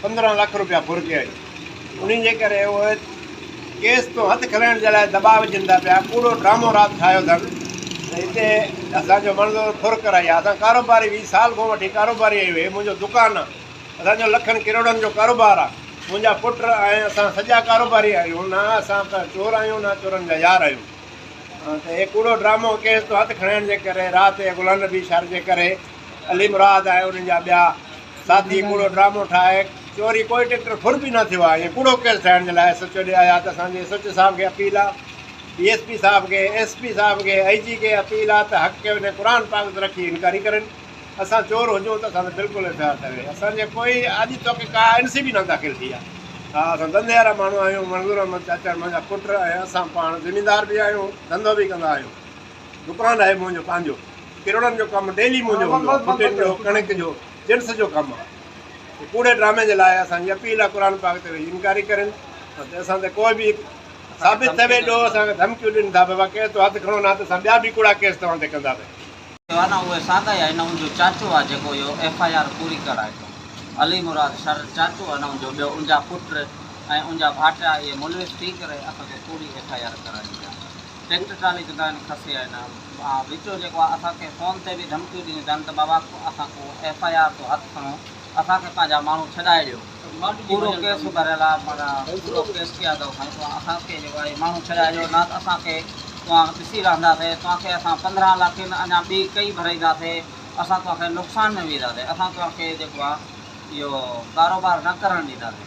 پندرهن لک روپيا ڦر ڪيا آهن انهي جي ڪري اهي ڪيس تون هٿ کلائڻ جي لاء دٻاء وجهن ٿا پيا ڪوڙو ڊرامو رات ٺاهيو اٿن ته هتي اسان جو مڻزو ڦر ڪرائي آ اسان ڪاروباري ويهه سال کان وٺي ڪاروباري آهيون هي منهنجو دڪان آ اسان جو لکن ڪروڙن جو ڪاروبار آ منهنجا پٽ ۽ اسان سڄا ڪاروباري آهيون نه اسان ڪا چور آهيون نه چورن جا يار آهيون ته هي ڪوڙو ڊرامو ڪيس تون هٿ کڻائڻ جي ڪري رات جي غلام نبي شر جي ڪري علي مراد ۽ انهن جا ٻيا ساٿي ڪوڙو ڊرامو ٺاهي چوري ڪوئي ٽڪٽر ڦر به نه ٿيو آهي ائين ڪوڙو ڪيس ٺاهڻ جي لاء ايس ايچ او ڏي آيا ته اسان جي ايس ايچ او صاحب کي اپيل آ ڊي ايس پي صاحب کي ايس پي صاحب کي اي جي کي اپيل آ ته حق کي وڃي قرآن پاڪ تي رکي انڪوائري ڪرين اسان چور هجون ته اسان تي بلڪل ايف آء آر ٺهي اسان جي ڪوئي اڄ توڪ ڪا اين سي بي نه داخل ٿي آ ها اسان ڌنڌي وارا ماڻهو آهيون منظور احمد چاچا منهنجا پٽ ۽ اسان پاڻ زميندار به آهيون ڌنڌو به ڪندا آهيون دڪان آهي منهنجو پنهنجو ڪروڙن جو ڪم ڊيلي منهنجو هوندو آهي ڦٽين جو ڪڻڪ جو جنس جو ڪم آهي هي ڪوڙي ڊرامي جي لاء اسان جي اپيل آهي قرآن پاڪ تي ويهي انڪاري ڪرين ته اسان تي ڪوئي به ثابت ٿئي ويندو اسان کي ڌمڪيون ڏين ٿا بابا ڪيس تو هٿ کڻو نه ته اسان ٻيا به ڪوڙا ڪيس توهان تي ڪنداسين. ڪيو آهي نه اهي ساڳا ئي آهن نه ان جو چاچو آهي جيڪو اهو ايف آء آر پوري ڪرائي ٿو علي مراد شر چاچو آهي نه ان جو ٻيو ان جا پٽ ۽ ان جا ڀائٽيا اهي ملوث ٿي ڪري اسان تي ڪوڙي ايف آء آر ڪرائين ٿا. ٽريڪٽر ٽرالي جي دانهن کسي آهي نه آن وچو جيڪو آهي اسان کي فون تي به ڌمڪيون ڏنيون تن ته بابا اسان ڪو ايف آء آر ٿو هٿ کڻو اسان کي پنهنجا ماڻهو ڇڏائي ڏيو پورو ڪيس ڀريل آهي معنيٰ پورو ڪيس ڪيا اٿو سائين توهان اسان کي جيڪو آهي ماڻهو ڇڏائي ڏيو نه ته اسان کي توهان ڏسي رهنداسين توهان کي اسان پندرهن لاکين اڃا ٻي ڪئي ڀرائينداسين اسان توهان کي نقصان ۾ وجهنداسين اسان توهان کي جيڪو آهي اهو ڪاروبار نه ڪرڻ ڏينداسين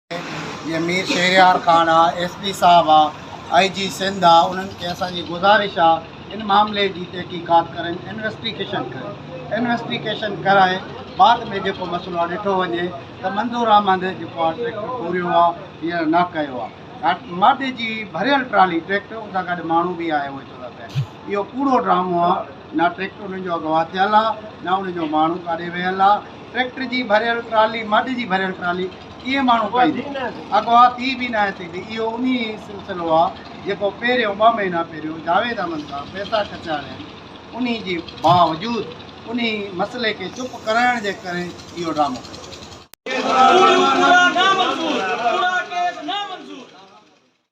جيئن مير شهريار خان آ ايس پي صاحب آ آئي جي سنڌ آ انهن کي اسان جي گذارش آ ان معاملي جي تحقيقات ڪرين انويسٽيگيشن ڪرين انويسٽيگيشن ڪرائي بعد ۾ جيڪو مسئلو آ ڏٺو وڃي ته منظور احمد جيڪو آ ٽريڪٽر پوريو آ يا نه ڪيو آ ماٽي جي ڀريل ٽرالي ٽريڪٽر ان سان گڏ ماڻهو به آهي اهو چودا پيا اهو ڪوڙو ڊرامو آ نه ٽريڪٽر انهن جو اغوا ٿيل آ نه انهن جو ماڻهو ڪاڏي ويل آ ٽريڪٽر جي ڀريل ٽرالي مڊ جي ڀريل ٽرالي ڪيئن ماڻهو پائيندو اغوا ٿي به ناهي سگهندي اهو انهي سلسلو آ جيڪو پهريون ٻه مهينا پهريون جاويد احمد کان پئسا کٽياڻين انهي جي باوجود انهي مسئلي کي چپ ڪرائڻ جي ڪري اهو ڊرامو ڪيو ويو.